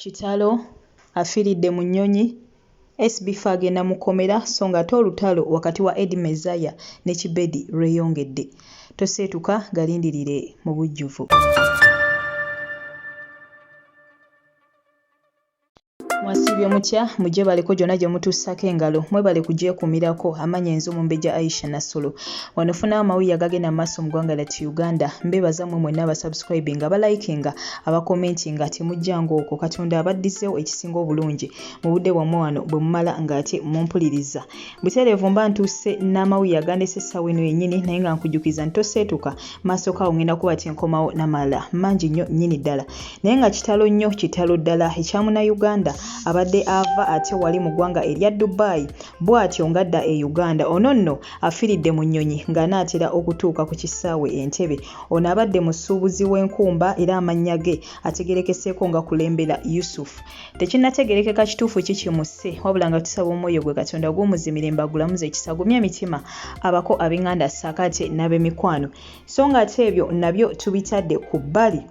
Kitalo! Afiiridde mu nnyonyi! SBF agenda mu kkomera so ng'ate olutalo wakati wa Eddie Mezaya ne Kibedi lweyongedde. Toseetuka, galindirire mu bujjuvu. mwasiibye mutya mujebaleko gyona gyemutuusako engalo mwebale kugyekumirako amanya enzo mumbeja aisha nasolo wano funa amawulire agagenda mumaaso mugwanga lati uganda mbebaza mwe mwena abasubscribing abalikinga abakomentinga temujjanga okwo katonda abaddizewo ekisinga obulungi mubudde bwamwe wano bwemumala nga ate mumpuliriza butereevu mba ntuuse n'amawulire agandese essaawa eno yennyini naye nga nkujukiza nti toseetuka maaso kaawo ngenda kuba kyenkomawo namala mangi nnyo nnyini ddala naye nga kitalo nnyo kitalo ddala ekya munauganda abadde ava ate wali mu ggwanga erya dubai bw'atyo ngadda e uganda ono nno afiiridde mu nnyonyi ng'anaatera okutuuka ku kisaawe entebe ono abadde musuubuzi w'enkumba era amannya ge ategerekeseeko nga kulembera yusufu tekinategerekeka kituufu ki kimusse wabula nga tusaba omwoyo gwe katonda guumuzimire mbagulamuza ekisa gumya emitima abako ab'enganda sakaate n'abemikwano so nga ate ebyo nabyo tubitadde ku bbali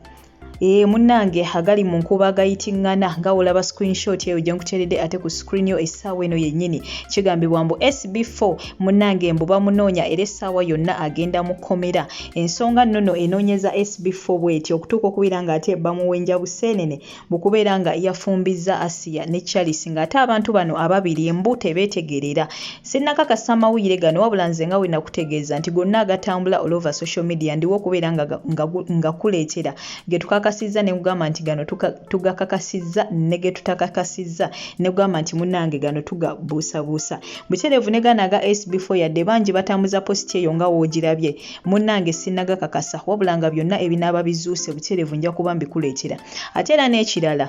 ee eh, munnange agali mu nkuba agayitingana nga olaba screenshot eyo gye nkuteredde ate ku screen yo essaawa eno yennyini kigambibwa mbu sb4 munnange mbu bamunoonya era essaawa yonna agenda mu kkomera ensonga nnono enoonyeza sb4 bweti okutuuka okubeera ng'ate bamuwenja buseenene mu kubeera nga yafumbizza Asiya ne Charles ng'ate abantu bano ababiri embu tebeetegerera. Sinnakakasa amawulire gano wabula nze nga bwe nakutegeeza nti gonna agatambula all over social media ndiwo okubeera nga, nga, nga kuleetera ge tukakasizza ne kugamba nti gano tugakakasizza ne ge tutakakasizza ne kugamba nti munnange gano tugabuusabuusa. Butereevu ne gano aga SB4 yadde bangi batambuza positi eyo nga woogirabye munnange sinnagakakasa wabula nga byonna ebinaaba bizuuse butereevu nja kuba mbikuleetera. ate era n'ekirala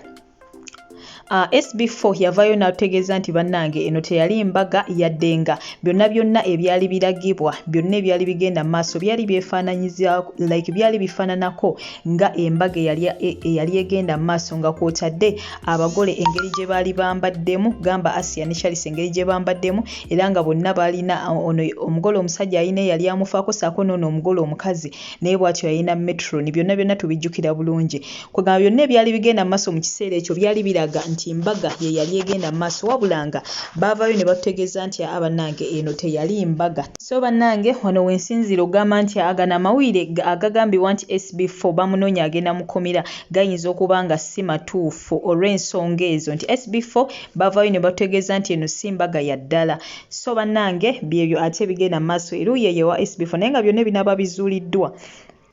Uh, ah, SB4 yavayo n'atutegeeza nti bannange eno teyali mbaga yadde nga byonna byonna ebyali biragibwa byonna ebyali bigenda mu maaso byali byefaananyiza like byali bifaananako nga embaga eyali egenda mu maaso nga kwotadde abagole engeri gye baali bambaddemu gamba asia ne charles engeri gye bambaddemu era nga bonna baalina uh, ono omugole omusajja alina eyali amufaako saako noono omugole omukazi naye bwatyo yalina metroni byonna byonna tubijjukira bulungi kwegamba byonna ebyali bigenda maaso mu kiseera ekyo byali biraga nti mbaga ye yali egenda maaso wabula nga baavaayo ne batutegeeza nti aa bannange eno teyali mbaga so bannange wano wensinziira okugamba nti agano amawulire agagambibwa nti sb fo bamunoonya agenda mukomera gayinza okuba nga si matuufu olw'ensonga ezo nti sb fo baavaayo ne batutegeeza nti eno si mbaga ya ddala So bannange byebyo ate ebigenda mu maaso eruuyi eyo ewa SB4 naye nga byonna ebinaaba bizuuliddwa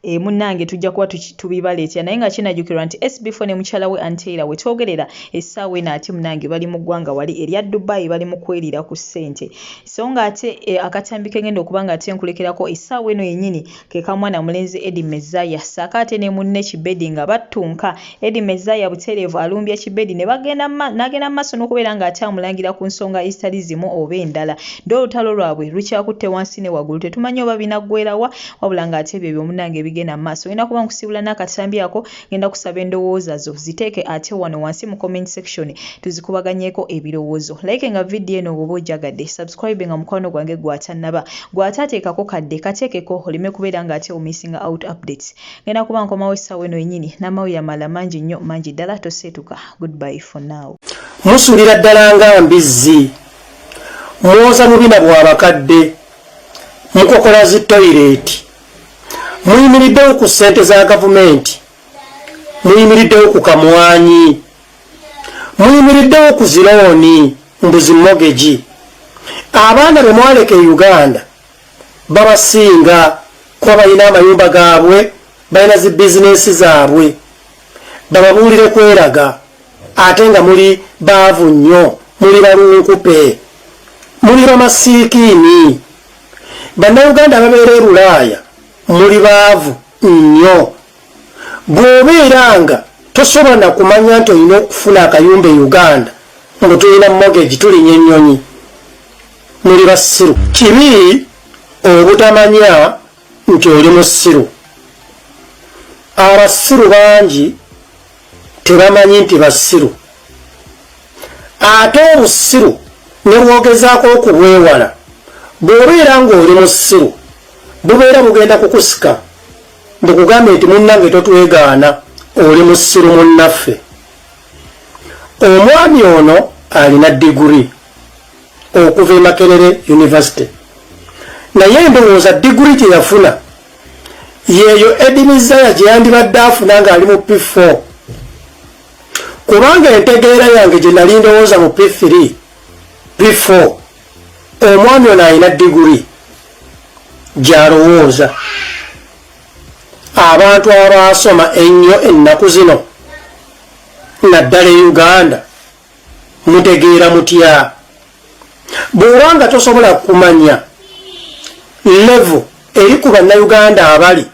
e, munnange tujja kuba tubibaleetera naye nga kinajukirwa nti SB4 ne mukyala we Anteira we twogerera essaawa eno ate munnange bali mu ggwanga wali erya Dubai bali mu kweriira ku ssente so ng'ate e, akatambi kengenda okuba nga ate nkulekerako essaawa eno yennyini ke ka mwana mulenzi Eddie Mezaya ssaako ate ne munne Kibedi nga battunka. Eddie Mezaya butereevu alumbye Kibedi n'agenda mu maaso n'okubeera ng'akyamulangira ku nsonga ezitali zimu oba endala. Ddi olutalo lwabwe lukyakutte wansi ne waggulu tetumanyi oba binaggweera wa wabula ng'ate byebyo munnange ebigenda mu maaso. Ng'enda kuba nkusiibula n'akatambi ako. Ngenda kusaba endowooza zo ziteeke ate wano wansi mu comment section tuzikubaganyeeko ebirowoozo. Like nga video eno bwoba ojagadde, subscribe nga mukwano gwange gwatannaba. Gwataateekako kadde, kateekeko oleme kubeera nga ate omissinga out updates. Ngenda kuba nkomawo essaawa eno yenyini n'amawulire amalala mangi nnyo mangi ddala toseetuka. Goodbye for now. Musulira ddala nga mbizzi. Mwoza bubina bwa bakadde. Mukokola zi toilet. muyimiriddewo ku ssente za gavumenti muyimiriddewo ku kamwanyi muyimiriddewo ku zirooni mbuzi mogegi abaana be mwaleka e uganda babasinga kuba balina amayumba gaabwe balina zi bizinesi zaabwe bababuulire kweraga ate nga muli baavu nnyo muli balunkupe muli bamasiikiini Bannayuganda ababeera e Bulaaya muli baavu nnyo. Bw'obeera nga tosobola na kumanya nti olina okufuna akayumba e Uganda mbu tulina mogegi tulinya ennyonyi, muli basiru. Kibi obutamanya nti oli musiru. Abasiru bangi. tebamanyi nti basiru ate obusiru nebwogezaako okubwewala bwobeera ngaoli musiru bubeera bugenda kukusika bukugambe nti munnange totwegaana oli musiru munnaffe omwami ono alina diguri okuva emakerere univesity naye ndowooza diguri gyeyafuna yeeyo edi mizaya gye yandibadde afuna ng'ali mu p4 kubanga entegeera yange gye nali ndowooza mu p3 p4 omwami ono alina diguri gy'alowooza abantu abaasoma ennyo ennaku zino naddala e uganda mutegeera mutya bw'oba nga tosobola kumanya levo eri ku bannayuganda abali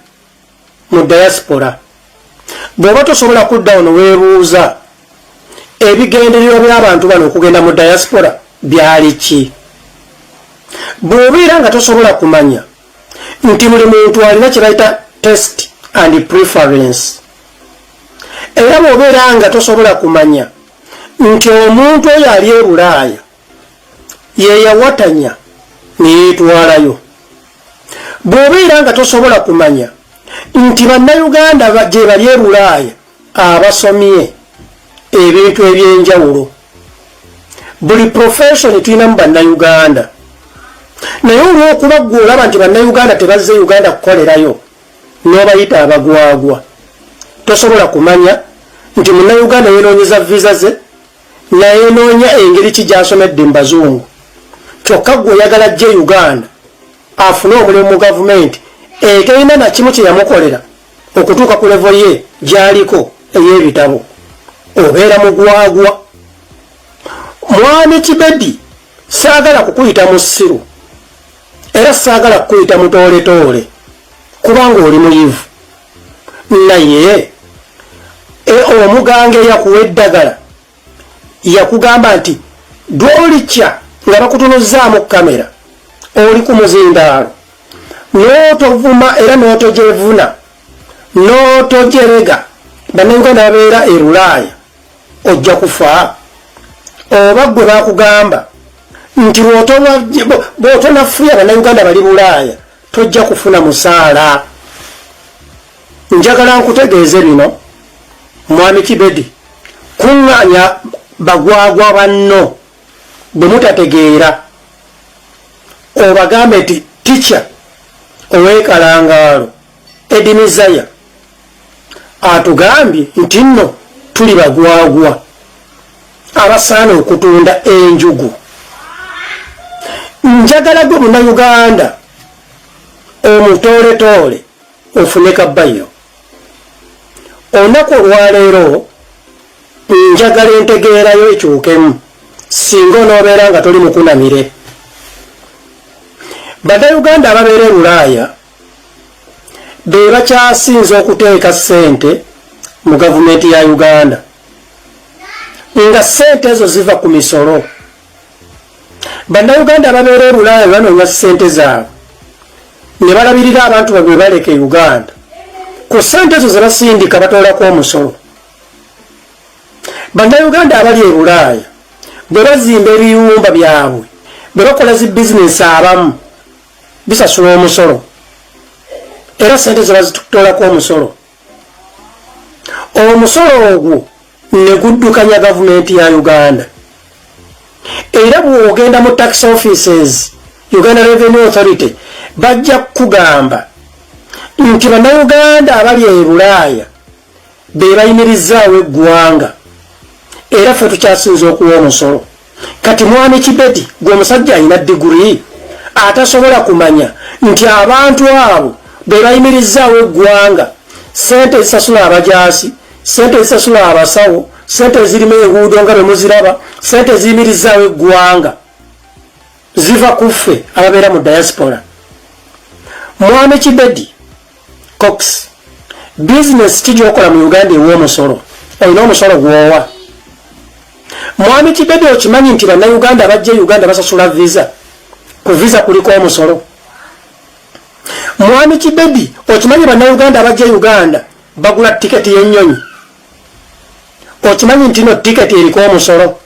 mu diaspora bw'oba tosobola kudda ono weebuuza ebigendererwa by'abantu bano okugenda mu diaspora byali ki bw'obeera nga tosobola kumanya nti buli muntu alina kye bayita test and preference era bw'obeera nga tosobola kumanya nti omuntu oyo ali e bulaaya yeyawatanya neyetwalayo bwobeera nga tosobola kumanya nti bannayuganda gyebali e bulaaya abasomye ebintu ebyenjawulo buli profession tulinamu bannayuganda naye olwokuba gwe olaba nti bannayuganda tebazze uganda kukolerayo nobayita abagwagwa tosobola kumanya nti munauganda yenonyeza visa ze nayenoonya engeri ki gyasomedde mu bazungu kyokka gwe oyagala jje uganda afune omulimu mu gavumenti eterina nakimu kyeyamukolera okutuuka ku levo ye gyaliko ey'ebitabo obeera mugwagwa mwami kibedi Saagala kukuyita musiru era saagala kukuyita mutooletoole kubanga oli muyivu naye e, omuganga eyakuwa eddagala yakugamba nti dwolikya nga bakutunuzzaamu kamera oli ku muzindaalo n'otovuma era n'otogyevuna n'otogyerega bannayuganda babeera erulaaya ojja kufa oba gwe bakugamba nti bwotonafuya banauganda bali bulaaya tojja kufuna musaala njagala nkutegeeze bino mwami kibedi kuŋŋanya bagwagwa banno bwe mutategeera obagambe nti tica owekalangaalo ebinizaya atugambye nti nno tuli bagwagwa abasaana okutunda enjugu njagala gwe munauganda omutooletoole ofune kabbayo olunaku olwaleero njagala entegeerayo ekyukemu singa onoobeera nga toli mukunamire banauganda ababeera e bulaaya be bakyasinze okuteeka ssente mu gavumenti ya uganda nga ssente ezo ziva ku misolo bannayuganda ababeera ebulaaya banoonya ssente zaabwe ne balabirira abantu babwe baleka e uganda ku ssente ezo ze basindika batoolako omusolo bannayuganda abali e bulaaya bwe bazimba ebiyumba byabwe bwe bakola zi bizinensi abamu bisasula omusolo era sente zebazitutolako omusolo omusolo ogwo neguddukanya gavumenti ya uganda era bwogenda mu tax offices uganda revenue authority bajja kukugamba nti banauganda abali ebulaaya be bayimirizaawo eggwanga era ffe tukyasinza okuwa omusolo kati mwami kibedi gwe omusajja alina diguri atasobola kumanya nti abantu abo be bayimirizaawo eggwanga sente ezisasula abajaasi sente ezisasula abasawo sente ezirimu enguudo nga bemuziraba sente eziyimirizaawo eggwanga ziva ku ffe ababeera mu diaspora mwami kibedi cox bizinesi ki gyokola mu uganda ew'omusolo olina omusolo gwowa mwami kibedi okimanyi nti bannauganda bajja e uganda basasula visa ku visa kuliko omusolo mwami kibedi okimanyi bannauganda bajja e uganda bagula tiketi y'ennyonyi okimanyi ntino tiketi eriko omusolo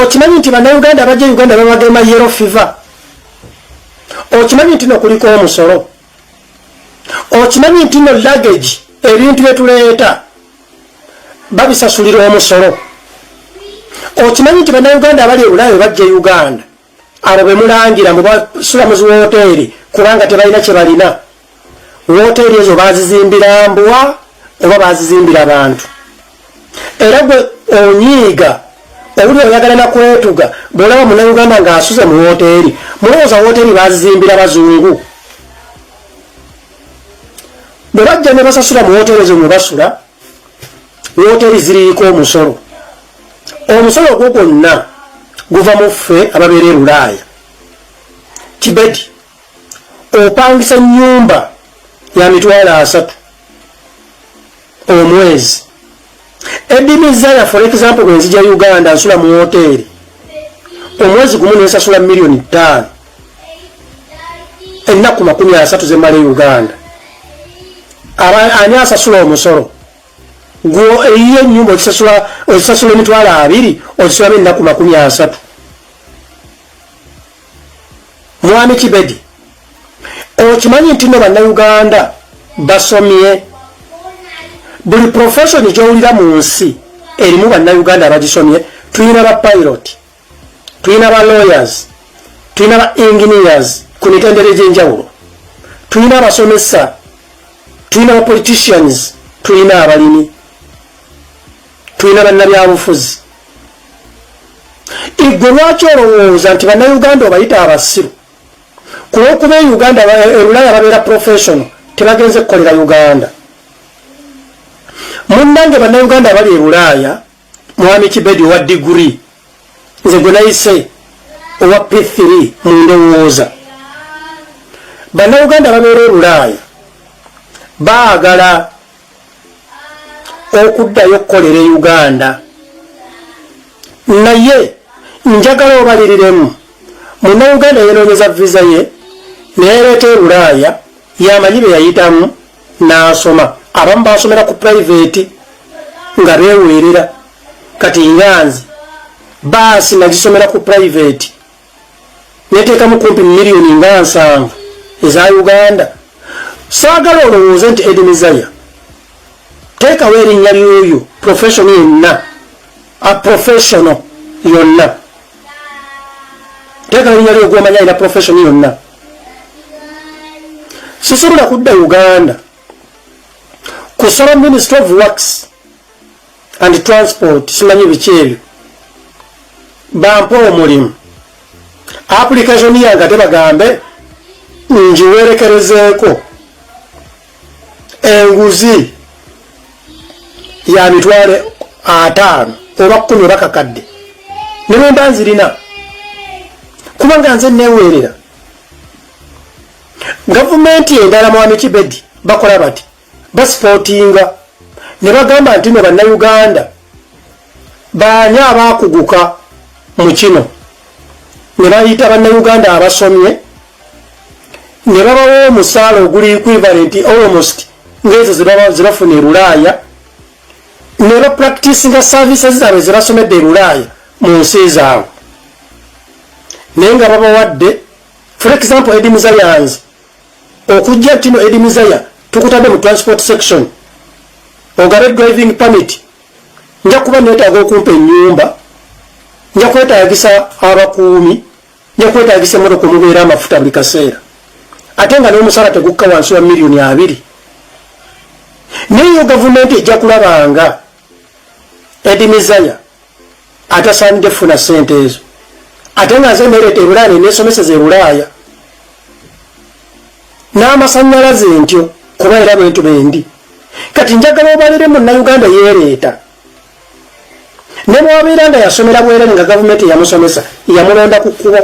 okimanyi nti banauganda abajja uganda babagema yero fiva okimanyi nti nokuliko omusolo okimanyi nti no lagage ebintu byetuleeta babisasulira omusolo okimanyi nti banauganda abali ebulayo bajja e uganda abo bemulangira mbu basula mu ziwooteeri kubanga tebalina kye balina wooteeri ezo bazizimbira mbwa oba bazizimbira bantu era gwe onyiiga owuli oyagala nakwetuga bwolaba munauganda nga asuze mu wooteeri mulowooza wooteeri bazizimbira bazungu bwe bajja ne basasula mu wooteeri ezo mwe basula wooteeri ziriiko omusolo omusolo ogwo gwonna guva mu ffe ababeera e bulaaya kibedi opangisa nyumba ya mitwalo asatu omwezi edimizaya for example bwenzija uganda nsula mu woteeri omwezi gumu nensasula miliyoni ttaano ennaku makumi asatu zemala e uganda ani asasula omusolo Gwo eyiyo enyumba ozisasula ozisasula emitwalo abiri ozisulamu ennaku makumi asatu. Mwami Kibedi, okimanyi nti no bannayuganda basomye buli profession gyowulira mu nsi erimu bannayuganda abagisomye tuyina ba pilot tulina ba lawyers tulina ba engineers ku mitendera egyenjawulo tulina abasomesa tulina ba politicians tulina abalimi tulina bannabyabufuzi igwe lwaki olowooza nti bannayuganda obayita abasiru kulwokuba e uganda erulaya e babeera professional tebagenze kukolera uganda munnange bannayuganda abali ebulaaya Mwami Kibedi owa diguri nze gwe nayise owa P3 mu ndowooza. Bannayuganda babeera ebulaaya baagala okuddayo okukolera e Uganda naye njagala obaliriremu munnayuganda yenoonyeza viza ye neyereeta ebulaaya yamanyi beyayitamu n'asoma abamu baasomera ku purayiveti nga beeweerera kati nganzi baasi nagisomera ku purayiveti neteekamu kumpi miliyoni nga nsanvu eza uganda saagala olowooze nti edinizaya teekawo erinnya lyoyo professiono yenna a professiono yonna teekawo erinnya lyogwomanya ina professiono yonna sisobola kudda uganda kusaba ministry of works and transport simanyi biki ebyo bampa omulimu application yange ate bagambe ngiwerekerezeeko enguzi ya mitwale ataano oba kumi oba kakadde ne bwe mba nzirina kubanga nze neweerera gavumenti endala mwami kibedi bakola bati basipootinga ne bagamba nti no bannayuganda Baani abaakuguka mu kino ne bayita bannayuganda abasomye ne babawa omusaala oguli equivalent almost ng'ezo ze bafuna e Bulaaya ne bapractisinga services zaabwe ze basomedde e Bulaaya mu nsi zaabwe naye nga babawadde for example Eddie Muzayanz okujja kino Eddie Muzaya tukutadde mu transport section ogabe driving permit nja kuba neetaaga okumpa ennyumba nja kwetaagisa abakuumi nja kwetaagisa emmotoka omubeera amafuta buli kaseera ate nga n'omusala tegukka wansi wa miliyoni abiri naye yo gavumenti ejja kulabanga edimizaya atasaanidde kufuna ssente ezo ate nga nze nereeta ebulaaya nenesomeseza ebulaaya n'amasannyalaze ntyo kuba era bwentu bendi kati njagala obalire munnauganda yeereeta ne bwabeera nga yasomera bwerere nga gavumenti eyamusomesa yamulonda ku kkubo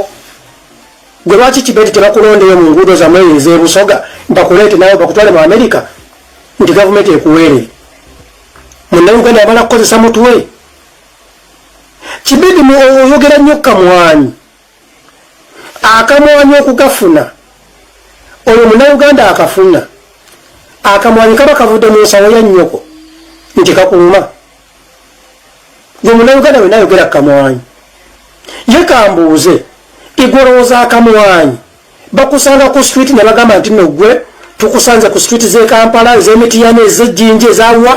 gwe lwaki kibeti tebakulondeyo mu nguudo zamwe ezebusoga bakuleete nawe bakutwale mu amerika nti gavumenti ekuweerere munnauganda yamala kukozesa mutwe kibidi oyogera nnyo kamwanyi akamwanyi okugafuna oyo munauganda akafuna akamwanyi kaba kavudde mu nsawo ya nnyoko nti kakuluma gwe munauganda wena ayogera kamwanyi ye kambuuze igwolowooza akamwanyi bakusanga ku street ne bagamba nti nogwe tukusanze ku street z'ekampala ez'emitiyana ez'ejjinja ezawa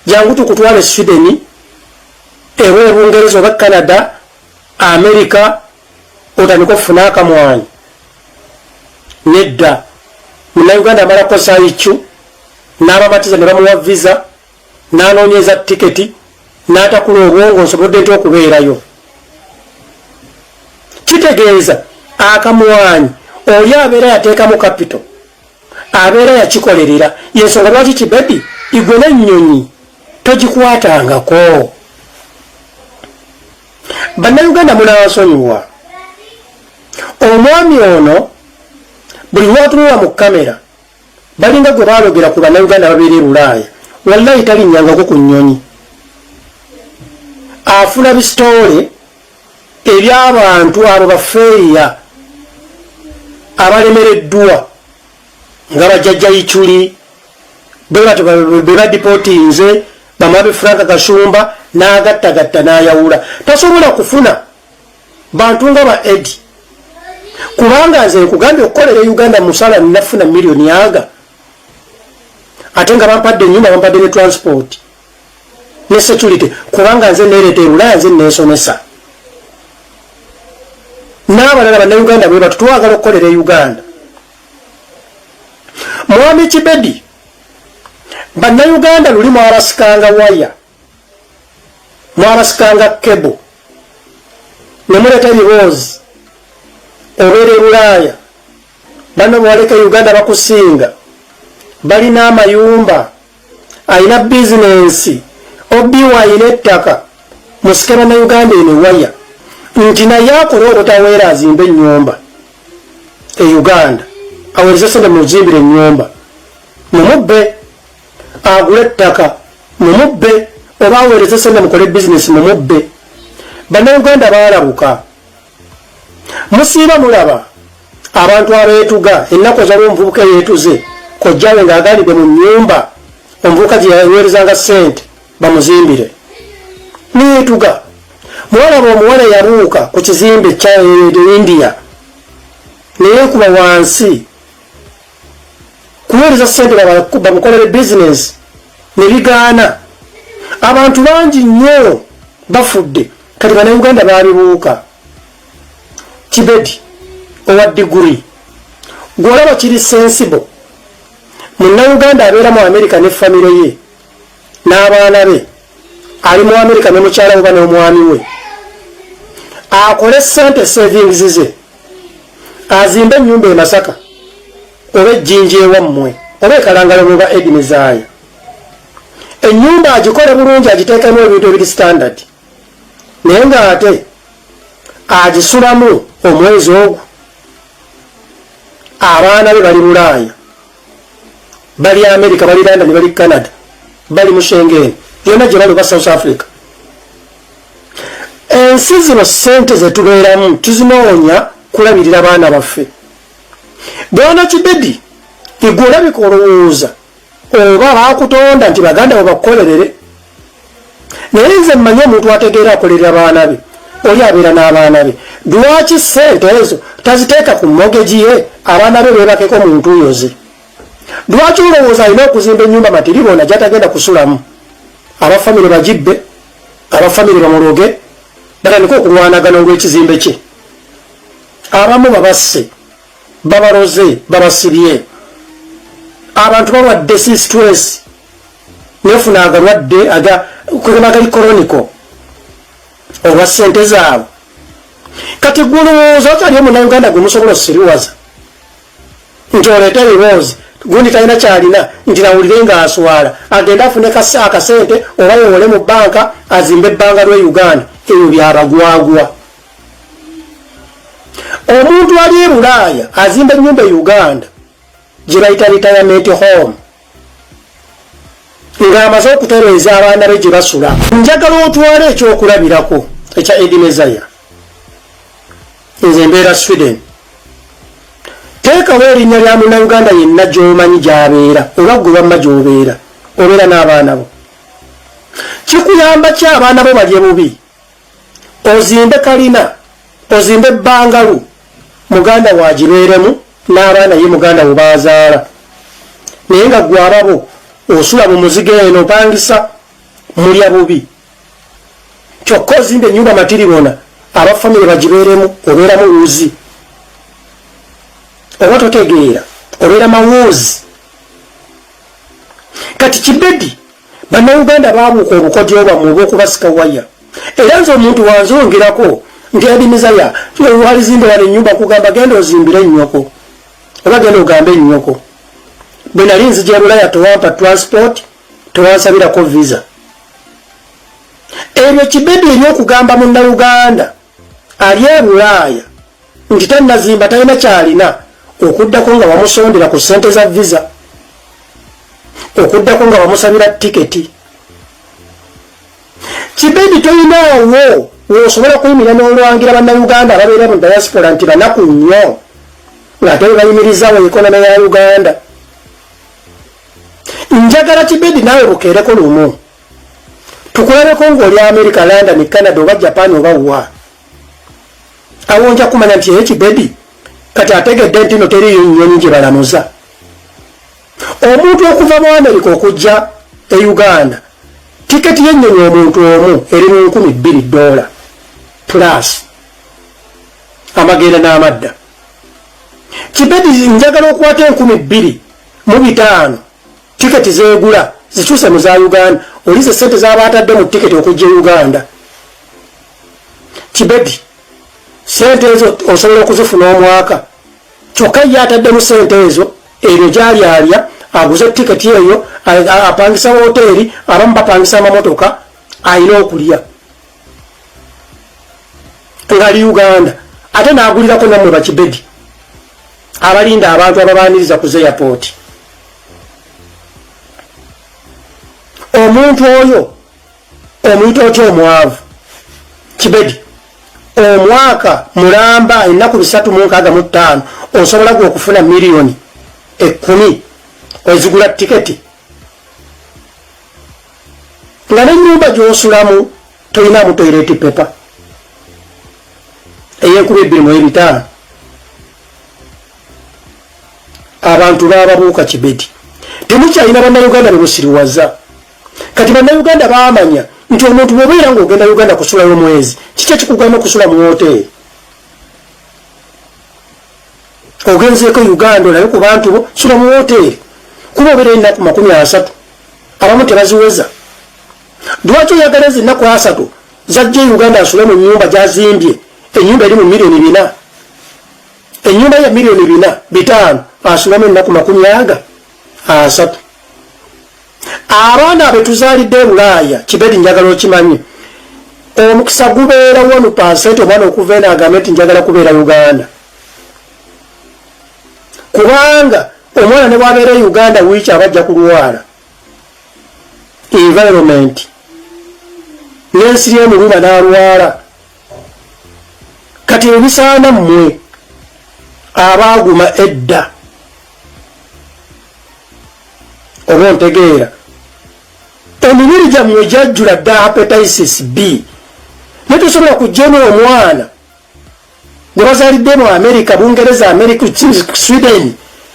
jangu tukutwale sweden ewa ebungereza oba canada america otandika okufuna akamwanyi nedda munauganda amala kukozesa icu n'abamatiza ne bamuwa visa n'anoonyeza tiketi n'atakula obwongo nsobodde nti okubeerayo kitegeeza akamwanyi oli abeera yateekamu kapito abeera yakikolerera yensonga lwaki kibebi igwe nenyonyi togikwatangako bannayuganda munansonyiwa omwami ono buli lwatunula mu kamera balinga gwe balogera ku bannayuganda babeera e bulaaya wallayi talinyangako ku nyonyi afuna bisitoole eby'abantu abo bafeeya abalemereddwa nga bajjajja iculi bebadipotinze bamabe frank kashumba n'agattagatta n'ayawula tasobola kufuna bantu nga ba edi kubanga nze nkugambye okukolera e uganda musala nafuna miliyoni aga ate nga bampadde enyumba bampadde ne transport ne security kubanga nze nereeta ebulaya nze nensomesa n'abalala bannayuganda bwe batu twagala okukolera e uganda mwami kibedi bannayuganda luli mwabasikanga waya mwabasikanga kebo ne muleeta ebiboozi obeera e bulaaya banno bwaleka e uganda bakusinga balina amayumba alina bizinensi obi wine ettaka musike banauganda eno waya nti naye akole obutaweera azimba enyumba e uganda awereze sente muzimbira enyumba mumubbe agule ettaka mumubbe oba awereze sente mukole bizinesi mumubbe banauganda balabuka musiiba mulaba abantu abeetuga ennaku ezaliwo omuvubuka eyeetuze kojjawe nga agalidde mu nnyumba omuvubuka gye yaweerezanga ssente bamuzimbire neyeetuga mwalaba omuwala yabuuka ku kizimbe kya india neyeekuba wansi kuweereza ssente bamukolere bizinensi ne bigaana abantu bangi nnyo bafudde kati banauganda baabibuuka kibedi owa diguri gwolaba kiri sensibo munauganda abeera mu amerika ne famire ye n'abaana be ali mu amerika ne mukyala weba n'omwami we akole sente savings ze azimba enyumba emasaka oba ejjinja ewammwe oba ekalangala muba edini zaayo enyumba agikole bulungi agiteekemu ebintu ebiri standard naye nga ate agisulamu omwezi ogwo abaana be bali bulaaya bali america bali london bali canada bali mushengen yona gyebali oba south africa ensi zino sente zetubeeramu tuzinoonya kulabirira baana baffe bwana kibedi igwe olabika olowooza oba bakutonda nti baganda bo bakukolerere naye nze mmanyi omuntu ategeera akolerera baana be oli abeera n'abaana be lwaki ssente ezo taziteeka ku mogegi ye abaana be beebakeko mu ntuuyo ze lwaki olowooza alina okuzimba ennyumba matiri bona gyatagenda kusulamu abafamire bagibbe abafamire bamuloge batandika okulwanagana olw'ekizimbe kye abamu babasse babaloze babasibye abantu balwadde si stress nefuna agalwadde aga kugamba gali koroniko olwa sente zaabwe kati gwolowooza okyali omunauganda gwe musobola osiriwaza nti oleeta ebiboozi gundi talina kyalina nti nawulire nga aswala agende afune akasente oba yewole mu banka azimbe ebbanga lwe uganda ebyo byabagwagwa omuntu ali e bulaaya azimba enyumba e uganda gyebayita retirement home ng'amaze okutereeza abaana be gye basula njagala otwala ekyokulabirako ekya edimezaya nze mbeera sweden teekawo erinnya lya munauganda yenna gy'omanyi gy'abeera oba gwe bamma gy'obeera obeera n'abaana bo kikuyamba ki abaana bo balye bubi ozimbe kalina ozimbe ebbangalu muganda waagibeeremu n'abaana ye muganda wo baazaala naye nga gwe ababo osula mu muziga eno opangisa mulya bubi kyokka ozimba ennyumba matiribona aba famire bagibeeremu obeeramu wuzi oba totegeera obeera mawuuzi kati kibedi Bannauganda baabuuka obukodyo bwammwe obw'okubasika waya era nze omuntu wanzongerako nti Eddy Mizaya walizimbe wano ennyumba kugamba genda ozimbire nnyoko oba genda ogambe nnyoko bwe nali nzija ebulaya tewampa transport tewansabirako visa ebyo kibedi ebyokugamba munnauganda ali e bulaaya nti tannazimba talina kyalina okuddako nga wamusondera ku ssente za visa okuddako nga wamusabira tiketi kibedi tolinaawo wosobola kuyimira n'olwangira bannayuganda ababeera mu diaspora nti banaku nnyo ng'ate we bayimirizaawo ekonoma ya uganda njagala kibedi naawe bukeereko lumu tukulabeko ng'oli america london canada oba japan oba wa awo nja kumanya nti eki bebi kati ategedde nti no teriyo nyonyi gye balamuza omuntu okuva mu america okujja e uganda tiketi yennyonyi omuntu omu eri mu nkumi bbiri dola plus amagenda n'amadda kibedi njagala okwata enkumi bbiri mu bitaano Tiketi zegula zikyuse mu za Uganda, olize sente zaba atadde mu tiketi okujja e Uganda. Kibebi, sente ezo osobola okuzifuna omwaka, kyokka ye atadde mu sente ezo ebyo gyali alya aguze tiketi eyo apangisa woteeri abamu bapangisa amamotoka ayina okulya ngali uganda ate nagulirako namwe bakibedi abalinda abantu ababaniriza ku zeyapooti omuntu oyo omuyita otya omwavu kibedi omwaka mulamba ennaku bisatu mu nkaaga mu ttaano osobola gwe okufuna miliyoni ekkumi ozigula tiketi nga nenyumba gyosulamu tolinamu toireti pepa eyenkuba ebbiri mu ebitaano abantu bababuuka kibedi temukyalina bannayuganda bemusiriwaza kati bannayuganda bamanya nti omuntu bwobeera nga ogenda uganda kusulayo mwezi kiki ekikugamba okusula mu woteeri ogenzeeko uganda olabe ku bantu bo sula mu woteeri kuba obeera ennaku makumi asatu abamu tebaziweza lwaki oyagala ezi nnaku asatu zajja e uganda asule mu nyumba gyazimbye enyumba eri mu miliyoni bina enyumba ya miliyoni bina bitaano asulamu ennaku makumi aga asatu abaana betuzalidde ebulaaya kibedi njagala okimanyi omukisa gubeera wanu pansente omwana okuva eno agambe nti njagala kubeera uganda kubanga omwana ne bwabeera e uganda wiiki aba ajja kulwala environment n'ensi lyemuluma n'alwala kati ebisaana mmwe abaaguma edda oba ontegeera emibiri gyammwe gyajjula dda hepatisis b naye tosobola kujjemu omwana gwe bazalidde mu amerika bungereza amerika sweden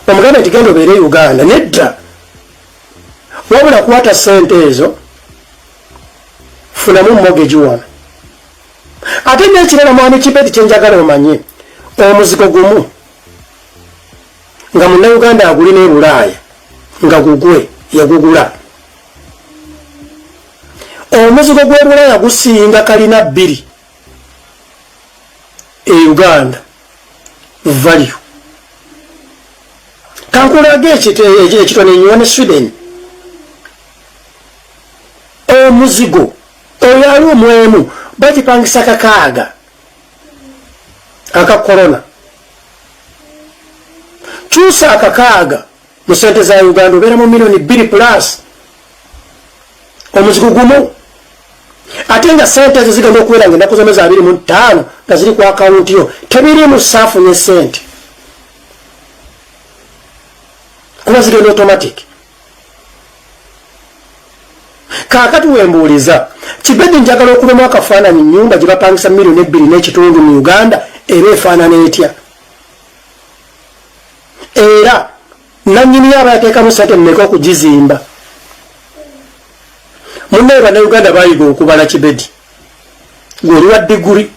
omuganda nti genda obeere uganda nedda wabula kwata sente ezo funamu mogeji wano ate nekirala mwami kibeti kyenjagala omanye omuzigo gumu nga munnayuganda aguli ne bulaaya nga gugwe yagugula omuzigo gw'ebulaaya gusinga kalina bbiri e uganda value kankulaga ekitone nyiwa ne sweden omuzigo oyo ali omwemu bagipangisa kakaaga aka corona kyusa akakaaga mu sente za uganda obeera mu milioni bbiri plus omuzigo gumu ate nga sente ezo zigenda okubeera nga ennaku zona za biri mu ttaano nga ziri ku akawunti yo tebiri mu saafu ne sente kuba zigenda automatic kakati wembuuliza kibedi njagala okubemu akafaananyi nyumba gyebapangisa milioni ebbiri n'ekitundu mu uganda era efaanana etya era nanyiniyo aba yateekamu sente mmeka okugizimba munaye banauganda bayiga okubala kibedi gweoli wa diguri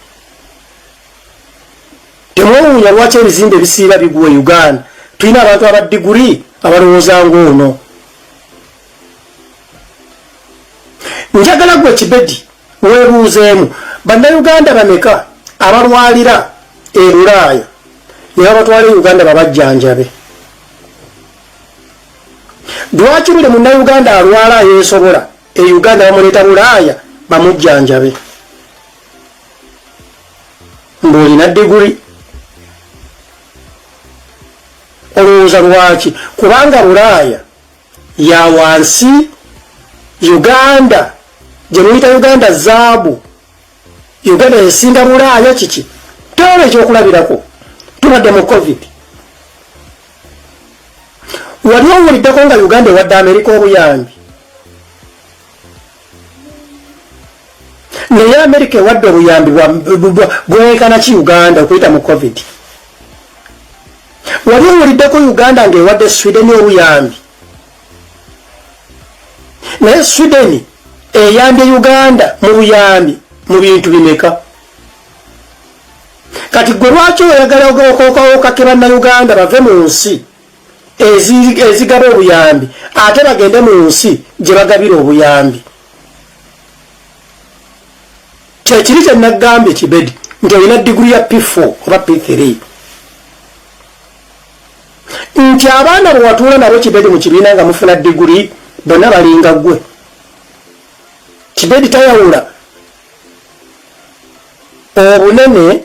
Temwewuunya lwaki ebizimbe ebisiiba bigwa e Uganda. Tulina abantu aba diguli abalowooza ng'ono. Njagala gwe kibedi weebuuzeemu bannayuganda bameka abalwalira e Bulaaya ne babatwala e Uganda babajjanjabe. Lwaki buli munnayuganda alwala ayeesobola e Uganda bamuleeta Bulaaya bamujjanjabe. ng'olina diguli olowooza lwaki kubanga bulaaya ya wansi uganda gye muyita uganda zaabu uganda esinga bulaaya kiki tewaba ekyokulabirako tubadde mu covid wali owuliddeko nga uganda ewadde amerika obuyambi naye amerika ewadde obuyambi bwenkana ki uganda okuyita mu covid wali owuliddeko uganda ngaewadde sweden obuyambi naye sweden eyambye uganda mu buyambi mu bintu bimeka kati gwe lwaki oyagala okakebannayuganda bave mu nsi ezigaba obuyambi ate bagende mu nsi gye bagabira obuyambi kyekiri kye nagambye kibedi nti olina diguli ya p4 oba p3 nti abaana bwe watuula nabo kibedi mu kibiina nga mufuna diguli bonna balinga gwe kibedi tayawula obunene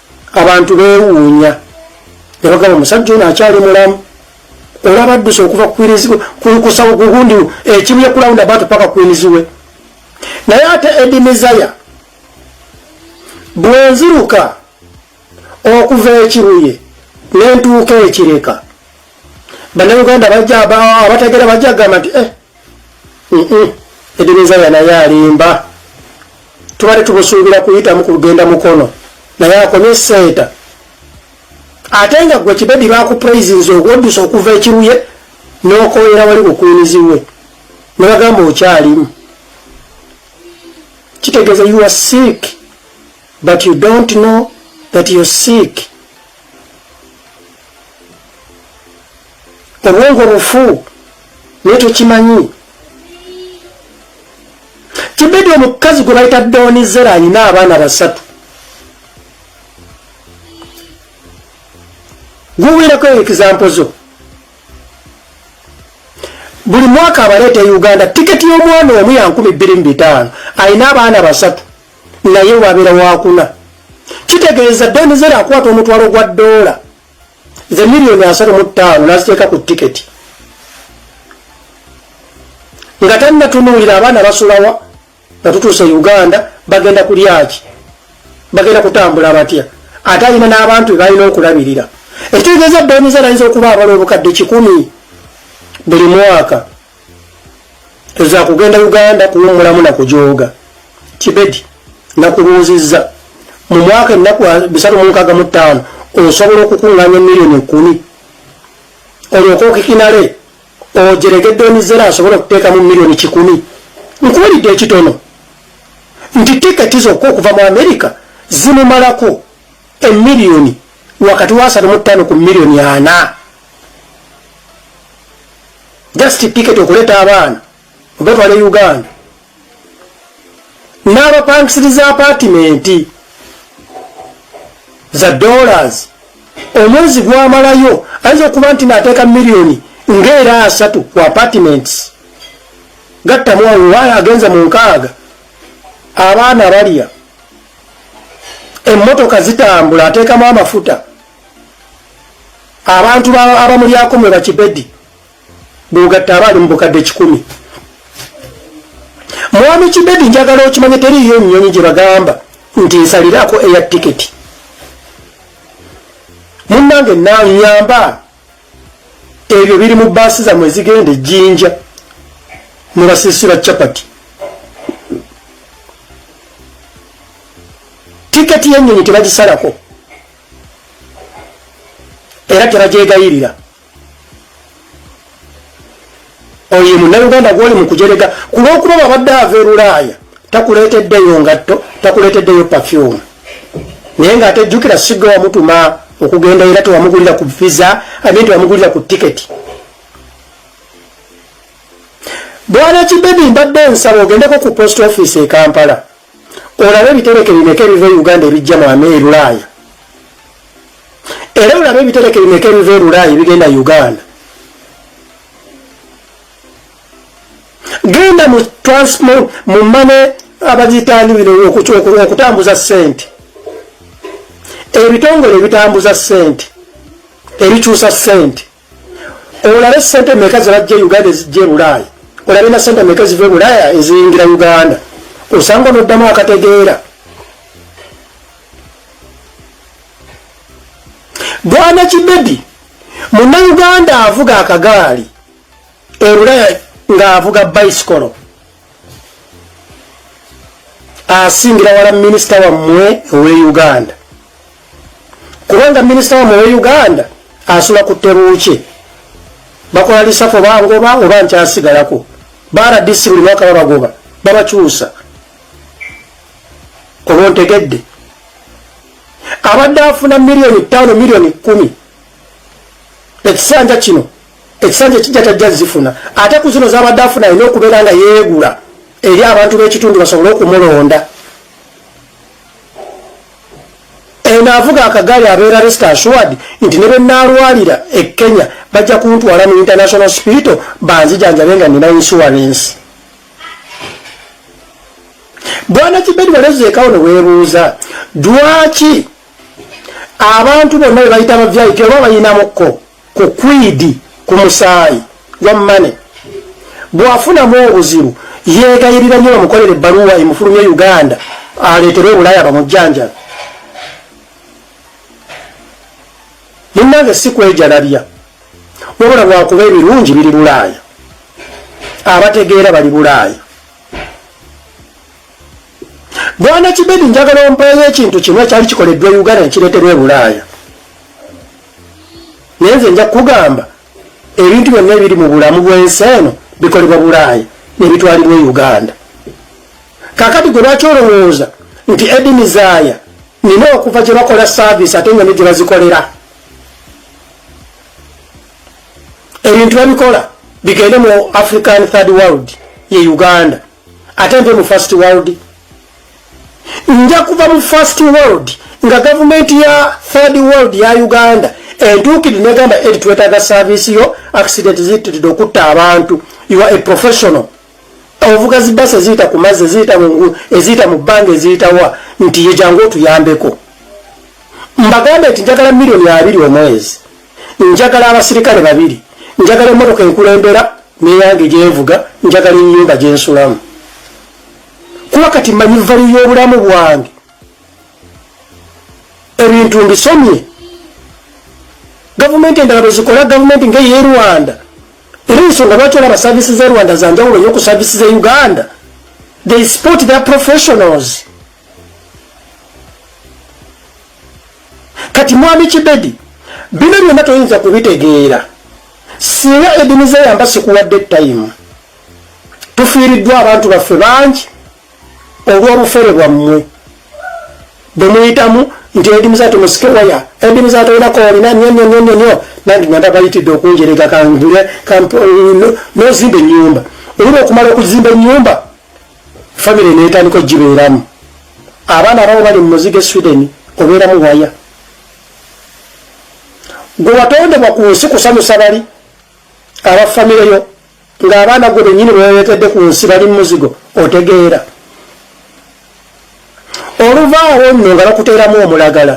abantu bewuunya ne bagamba omusajja ono akyali mulamu olaba adduse okuva kusawo kugundi ekimu yekulawunda batu paka kwiniziwe naye ate edi mizaya bwenziruka okuva ekiruye nentuuka ekireka banauganda abategera bajagamba nti eh, edeneza yanaye alimba tubadde tubusuubira kuyitamu ku lugenda mukono naye akomye senta ate nga gwe kibedi bakupraisinze ogwoddusa okuva ekiruye nokoyera wali kukwiniziwe nebagamba okyalimu kitegeeza you are sick but you don't know that you're sick obwongo bufu naye tokimanyi kibedi omukazi gwe bayita donizera alina abaana basatu guwirako ekizampo zo buli mwaka abaleeta e uganda tiketi y'omwana omu ya nkumi bbiri mu bitaano alina abaana basatu naye wabeera wakuna kitegeeza donizera akwata omutwalo gwa doola nze miliyoni asatu mu ttaano naziteeka ku tiketi nga tannatunuulira abaana basulawa nga tutuuse uganda bagenda kulyaki bagenda kutambula batya ate alina n'abantu bebalina okulabirira ekitegeeza boniza nayinza okuba abala obukadde kikumi buli mwaka eza kugenda uganda kuwumulamu na kujooga kibedi nakubuuzizza mu mwaka ennaku bisatu mu nkaaga mu ttaano osobola okukuŋŋaanya emiliyoni ekkumi olyoka okikinale ojeregedde emizera asobola okuteekamu miliyoni kikumi nkuwulidde ekitono nti tiketi zokka okuva mu amerika zimumalako emiliyoni wakati wa asatu mu ttaano ku miliyoni ana just ticket okuleta abaana obatwala e uganda n'abapangisiriza apatimenti za dollars omwezi gwamalayo ayinza okuba nti nateeka miliyoni ngaera asatu ku apartments gattamu awuwayo agenza mu nkaaga abaana balya emmotoka zitambula ateekamu amafuta abantu abamulyako mwe bakibedi bwogatta abaali mu bukadde kikumi mwami kibedi njagala okimanye teriiyo nnyonyi gye bagamba nti nsaliraako eya tiketi munnange nanyamba ebyo biri mu baasi zamwe zigenda ejjinja mwe basiisira capati tiketi y'ennyonyi tebagisalako era tebagyegayirira oyo ye munnayuganda gwoli mu kujerega ku lw'okuba babadde ava erulaaya takuleeteddeyo ngatto takuleeteddeyo pafyumu naye ng'ate jjukira sigga wamutuma okugenda era tewamugulira ku visa amin tewamugulira ku tiketi bwana kibebi mbadde nsaba ogendeko ku post office e kampala olabe ebitereke bimeka ebiva e uganda ebijja mu ame erulaaya era olabe ebitereke bimeka ebiva erulaaya ebigenda uganda genda mu transmo mu mane abagitani bino okutambuza sente ebitongole ebitambuza sente ebikyusa sente olabe sente meka zebajja e uganda ezijja ebulaaya olabe na sente meka ziva ebulaaya eziyingira uganda osanga onoddamu akategeera bwana kibebi muna uganda avuga akagaali ebulaaya ng'avuga bicycolo asingira wala minisita wammwe owe uganda kubanga minisita wammwe owe uganda asula ku tebuukye bakola lisafo bangoba oba nkyasigalako baradisi buli mwaka babagoba babakyusa oba ontegedde abadde afuna miliyoni ttaano miliyoni kumi ekisanja kino ekisanja ekijja tajja zifuna ate ku zino zabadde afuna alina okubeera nga yeegula eri abantu b'ekitundu basobole okumulonda enaavuga akagaali abeera rest assured nti ne benaalwalira e kenya bajja kuntwala mu international spital banzijanjabe nga nina insurance bwana kibedi walezeekawo ne weebuuza dwaki abantu bonna bebayita ba vip oba bayinamukko ku kwidi ku musaayi gwa mane bwafunamu obuzibu yegayirira nyo bamukolera ebbaluwa emufulumye uganda aleetere obulaya bamujjanjala munange si kwejalabya wabula lwakuba ebirungi biri bulaaya abategeera bali bulaaya bwana kibedi njagala ompeeyo ekintu kimu ekyali kikoleddwa uganda nekireeterwa ebulaaya naye nze nja kukugamba ebintu byonna ebiri mu bulamu bw'ensi eno bikolebwa bulaaya nebitwalibwa e uganda kakati gwe lwaki olowooza nti edini zaaya nina okuva gye bakola saavisi ate nga ne gye bazikolera ebintu babikola bigende mu african third world ye uganda ate nte mu first world nja kuva mu first world nga gavumenti ya third world ya uganda entuukidi negamba eri twetaaga saavisi yo accident ziyitiridde okutta abantu you are a professional ovuga zibasa eziyita ku mazzi eziyita mungulu eziyita mu bbanga eziyitawa nti yejangu otuyambeko mbagambe nti njagala milioni abiri omwezi njagala abasirikale babiri njagala emotoka enkulembera neyange gyenvuga njagala enyumba gyensulamu kuba kati manyi vali y'obulamu bwange ebintu mbisomye gavumenti endala bwezikola gavumenti ngeye rwanda era ensonga lwaki olaba saavisi ze rwanda zanjawulo nyo ku saavisi ze uganda they sport their professionals kati mwami kibedi bino byonna toyinza kubitegeera singa edini zeyamba sikuwadde time tufiiriddwa abantu baffe bangi olw'obufere bwammwe bwe muyitamu nti edi muzato musike waya edi muzato ina kori na nyo nyo nyo nyo nyo na ndi nanda ba iti doku njere ga kangule kampo no, no zimbe nyumba ulibo kumalo kuzimbe nyumba family neta niko jibe iramu abana rao bali muzige sweden obera mu waya gwa watonde kwa kuhusu kusanu sabari awa family yo ng'abaana gwe bennyini bwewerekedde ku nsi bali mumuzigo otegeera oluvaawo nno nga bakuteeramu omulagala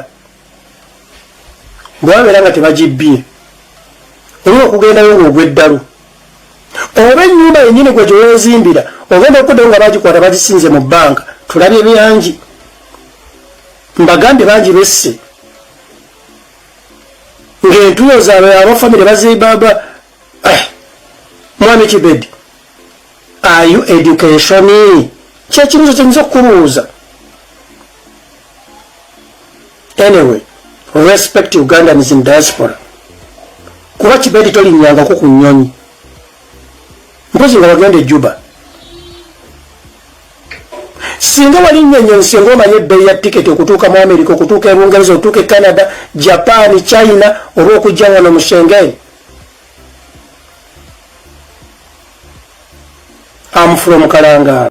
bwebabeera nga tebagibbye olina okugendayo ngaogweddalu oba ennyumba yennyini gwe gyewezimbira ogenda okuddayo nga bagikwata bagisinze mu bbanka tulabye byangi mbagambye bangi besse ng'entuyo zaabwe abafamire bazibaba eh, mwami kibedi ayu education kyekibuzo kyenyinza okukubuuza anyway respect ugandans in diaspora kuba kibedi tolinyangako ku nyonyi mpozi nga wagenda ejuba singa wali nyonyi nsi nga omanye ebbeyi ya tiketi okutuuka mu amerika okutuuka ebungereza okutuuka e canada japan china oba okujja wano mu shengen I'm from Kalangala.